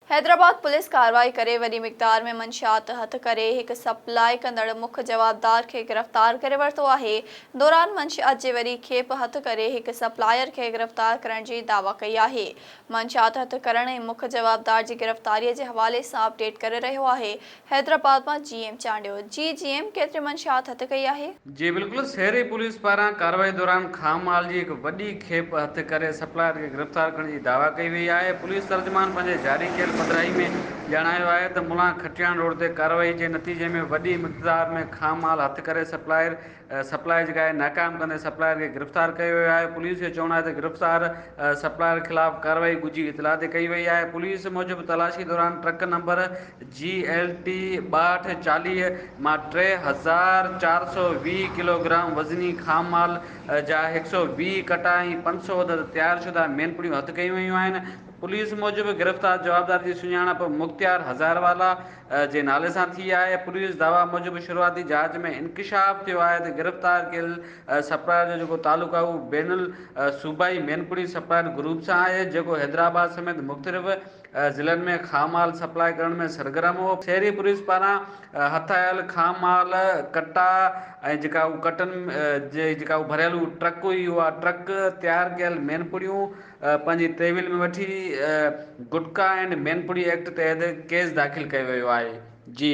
Hyderabad police ڪارروائي ڪري وڏي مقدار ۾ منشيات هٿ ڪري هڪ سپلاء ڪندڙ مک جوابدار کي گرفتار ڪري ورتو آهي، دوران منشيات جي وڏي کيپ هٿ ڪري هڪ سپلائر کي گرفتار ڪرڻ جي دعويٰ ڪئي آهي، منشيات هٿ ڪرڻ ۽ مک جوابدار جي گرفتاري جي حوالي سان اپڊيٽ ڪري رهيو آهي حيدرآباد مان جي ايم چانڊيو جي جي ايم ڪيتري منشيات هٿ ڪئي آهي؟ جي بلڪل شهري پوليس پاران ڪارروائي دوران خام مال جي هڪ وڏي کيپ هٿ ڪري سپلائر کي گرفتار ڪرڻ جي دعويٰ ڪئي وئي آهي پوليس ترجمان پنهنجي جاري ڪيل پڌرائي ۾ ڄاڻايو آهي ته ملان کٽياڻ روڊ تي ڪارروائي جي نتيجي ۾ وڏي مقدار ۾ خام مال هٿ ڪري سپلائر سپلائر جي ڪارروائي ناڪام ڪندي سپلائر کي گرفتار ڪيو ويو آهي پوليس جو چوڻ آهي ته گرفتار سپلائر خلاف ڪارروائي ڳجهي اطلاع تي ڪئي وئي آهي پوليس موجب تلاشي دوران truck number G L T ٻاهٺ چاليهه مان ٽي هزار چار سؤ ويهه ڪلوگرام وزني خام مال جا هڪ سؤ ويهه ڪٽا ۽ پنج سؤ عدد تيار شده مين پڙيون هٿ ڪيون ويون آهن پوليس موجب گرفتار جوابدار جي سڃاڻپ مختيار هزاروالا جي نالي سان ٿي آهي، پوليس دعويٰ موجب شروعاتي جاچ ۾ انڪشاف ٿيو آهي ته گرفتار ڪيل سپلائر جو جيڪو تعلق آهي اهو بين الصوبائي مينپوڙي سپلائر گروپ سان آهي جيڪو حيدرآباد سميت مختلف ضلعن ۾ خام مال سپلاء ڪرڻ ۾ سرگرم هو، شهري پوليس پاران هٿ آيل خام مال ڪٽا ۽ جيڪا اهو ڪٽن جي جيڪا اهو ڀريل ٽرڪ هئي اها ٽرڪ تيار ڪيل مينپوڙيون. پنهنجي تحويل ۾ وٺي گٽڪا اينڊ مينپوڙي ايڪٽ تحت ڪيس داخل ڪيو ويو آهي جي